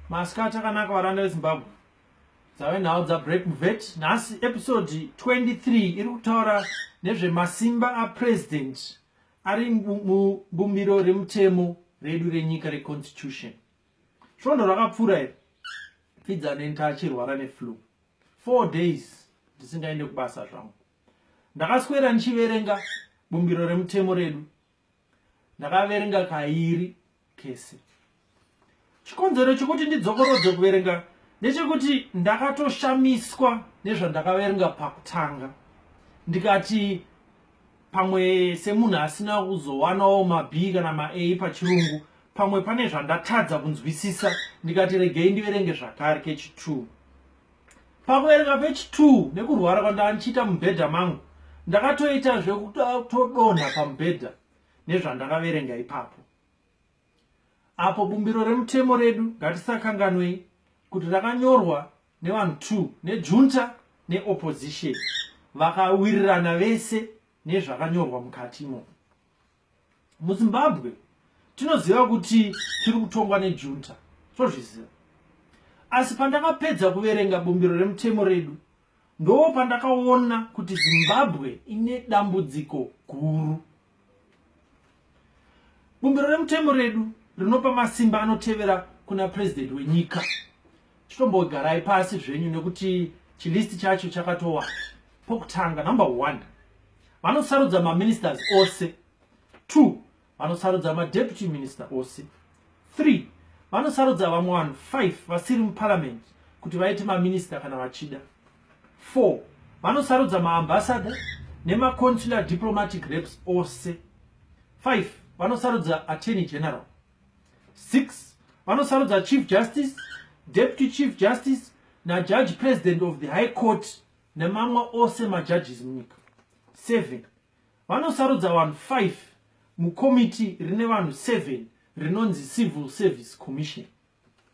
masikati akanaka varanda vezimbabwe dzave nhau dzabreak muvet nhasi episode 23 iri kutaura nezvemasimba apresident ari mubumbiro remutemo redu renyika reconstitution svondo rakapfuura iri fidza nenta achirwara neflu four days ndisingaende kubasa zvangu ndakaswera ndichiverenga bumbiro remutemo redu ndakaverenga kairi kese chikonzero chekuti ndidzokorodze kuverenga ndechekuti ndakatoshamiswa nezvandakaverenga pakutanga ndikati pamwe semunhu asina kuzowanawo mab kana ma a pachirungu pamwe pane zvandatadza kunzwisisa ndikati regei ndiverenge zvakare kechi2 pakuverenga pechi 2 nekurwara kwandaa ndichiita mubhedha mangu ndakatoita zvekutodonha pamubhedha nezvandakaverenga ipapo apo bumbiro remutemo redu ngatisakanganwei kuti rakanyorwa nevanhu two nejunta neopposition vakawirirana vese nezvakanyorwa mukati imomo muzimbabwe tinoziva kuti tiri kutongwa nejunta tozviziva asi pandakapedza kuverenga bumbiro remutemo redu ndoo pandakaona kuti zimbabwe ine dambudziko guru bumbiro remutemo redu rinopa masimba anotevera kuna purezidenti wenyika chitombogarai pasi zvenyu nekuti chilisti chacho chakatowa pokutanga number one vanosarudza maministers ose two vanosarudza madeputy minister ose three vanosarudza vamwe vanhu five vasiri muparliament kuti vaite maminister kana vachida four vanosarudza maambassador nemaconsular diplomatic reps ose five vanosarudza attorney general 6 vanosarudza chief justice deputy chief justice najudge president of the high court nemamwe ose majudges munyika 7 vanosarudza vanhu 5 mukomiti rine vanhu 7 rinonzi civil service commission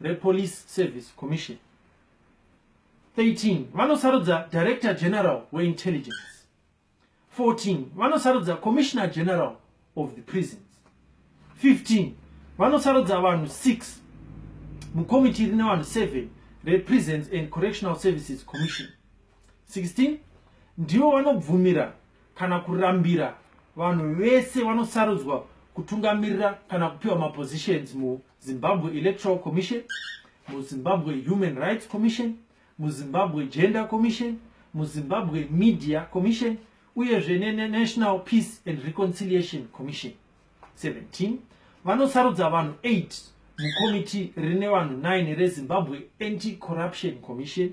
rePolice Service Commission 13 vanosarudza Director General weIntelligence 14 vanosarudza commissioner general of the prisons 15 vanosarudza vanhu 6 mukomiti rine vanhu 7 reprisons and correctional services commission 16 ndivo vanobvumira kana kurambira vanhu vese vanosarudzwa kutungamirira kana kupiwa mapositions mu Zimbabwe Electoral Commission, muZimbabwe Human Rights Commission, muZimbabwe Gender Commission, muZimbabwe Media Commission, uyezve neNational Peace and Reconciliation Commission. 17 vanosarudza vanhu 8 mukomiti rine vanhu 9 rezimbabwe anti-corruption commission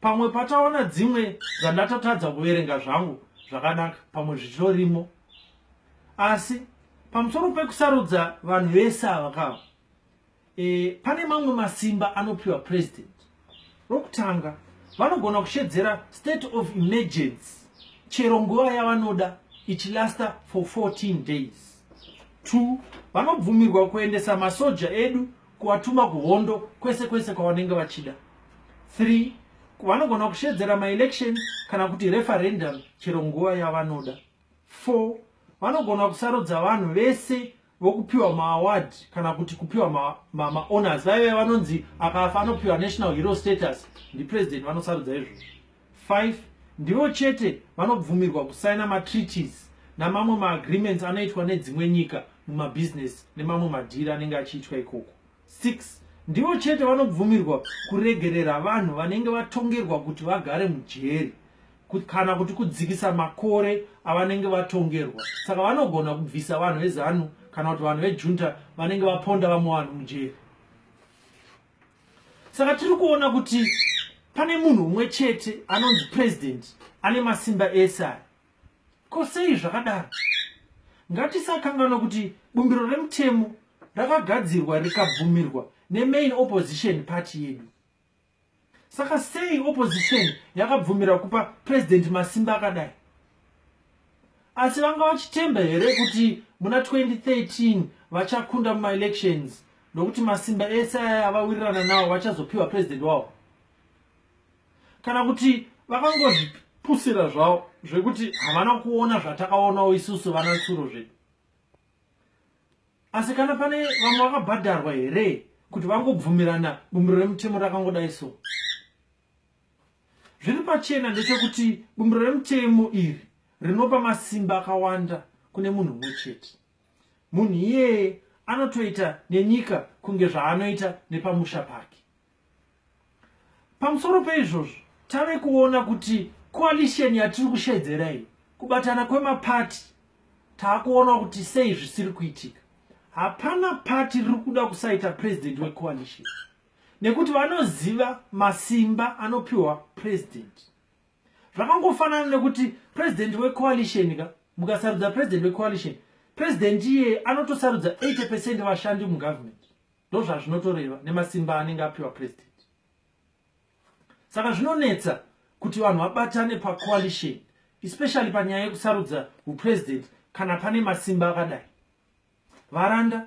pamwe pataona dzimwe dzandatatadza kuverenga zvangu zvakanaka pamwe zvitorimo asi pamusoro pekusarudza vanhu vese ava kava e, pane mamwe masimba anopiwa president rokutanga vanogona kushedzera state of emergency chero nguva yavanoda ichilasta for 14 days two vanobvumirwa kuendesa masoja edu kuvatuma kuhondo kwese kwese kwavanenge vachida 3 vanogona kushedzera maelection kana kuti referendum chero nguva yavanoda 4 vanogona kusarudza vanhu vese vokupiwa maaward kana kuti kupiwa maowners vaive vanonzi akafa anopiwa national hero status ndipresident vanosarudza izvozvo 5 ndivo chete vanobvumirwa kusaina matreaties namamwe maagreements anoitwa nedzimwe nyika mumabhizinesi nemamwe madhiri anenge achiitwa ikoko 6 ndivo chete vanobvumirwa kuregerera vanhu vanenge vatongerwa kuti vagare mujeri kana kuti kudzikisa makore avanenge vatongerwa saka vanogona kubvisa vanhu vezanu kana kuti vanhu vejunta vanenge vaponda vamwe vanhu mujeri saka tiri kuona kuti pane munhu umwe chete anonzi president ane masimba ese aya ko sei zvakadaro ngatisakanganwa kuti bumbiro remutemo rakagadzirwa rikabvumirwa nemain opposition party yedu saka sei opposition yakabvumira kupa president masimba akadai asi vanga vachitemba here kuti muna 2013 vachakunda mumaelections nokuti masimba ese aya avawirirana nawo vachazopiwa president wavo kana kuti vakangozvipusira zvavo zvekuti havana kuona zvatakaonawo isusu vana tsuro zvedu asi kana pane vamwe vakabhadharwa here kuti vangobvumirana bumbiro remutemo rakangodai so Zviri pachena ndechekuti bumbiro remutemo iri rinopa masimba akawanda kune munhu umwe chete. Munhu iyeye anotoita nenyika kunge zvaanoita nepamusha pake. Pamusoro peizvozvo, tave kuona kuti coalition yatiri kushedzera iyi, kubatana kwemapati, taakuona kuti sei zvisiri kuitika. Hapana pati riri kuda kusaita president wecoalition. nekuti vanoziva masimba anopiwa president zvakangofanana nekuti president wecoalition ka mukasarudza president wecoalition president iye anotosarudza 80 percent vashandi mugovernment ndo zvazvinotoreva nemasimba anenge apiwa president saka zvinonetsa kuti vanhu vabatane pacoalition especially panyaya yekusarudza upresident kana pane masimba akadai varanda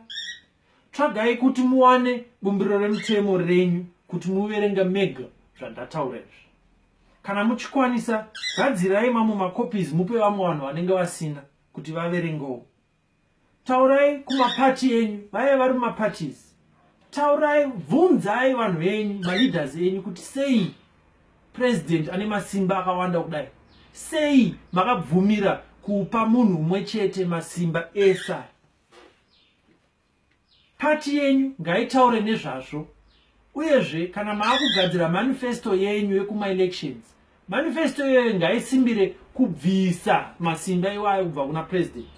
tsvagai kuti muwane bumbiro remutemo renyu kuti muverenga mega zvandataura izvi kana muchikwanisa gadzirai mamwe macopies mupe vamwe vanhu vanenge vasina kuti vaverengewo taurai kumapati enyu vaive vari mumaparties taurai bvunzai vanhu venyu maleaders enyu kuti sei president ane masimba akawanda kudai sei makabvumira kupa munhu umwe chete masimba esa pati yenyu ngaitaure nezvazvo uyezve kana maakugadzira manifesto yenyu yekumaelections Manifesto iyoyo ngaisimbire kubvisa masimba iwayo kubva kuna president.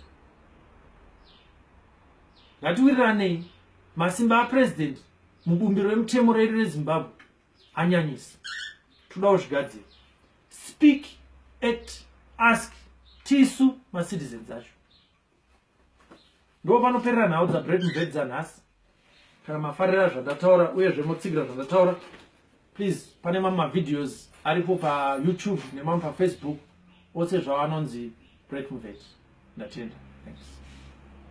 Ngatiwiriranei masimba apresident mubumbiro remutemo redu reZimbabwe anyanyisa. Todawo zvigadziro. Speak, act, ask tisu macitizens acho. ndo panoperera nhau dzabret mubed dzanhasi kana mafarira zvandataura uyezve motsigira zvandataura please pane mamwe mavideos aripo payoutube nemamwe pafacebook ose zvawanonzi bret mubed ndatenda thanks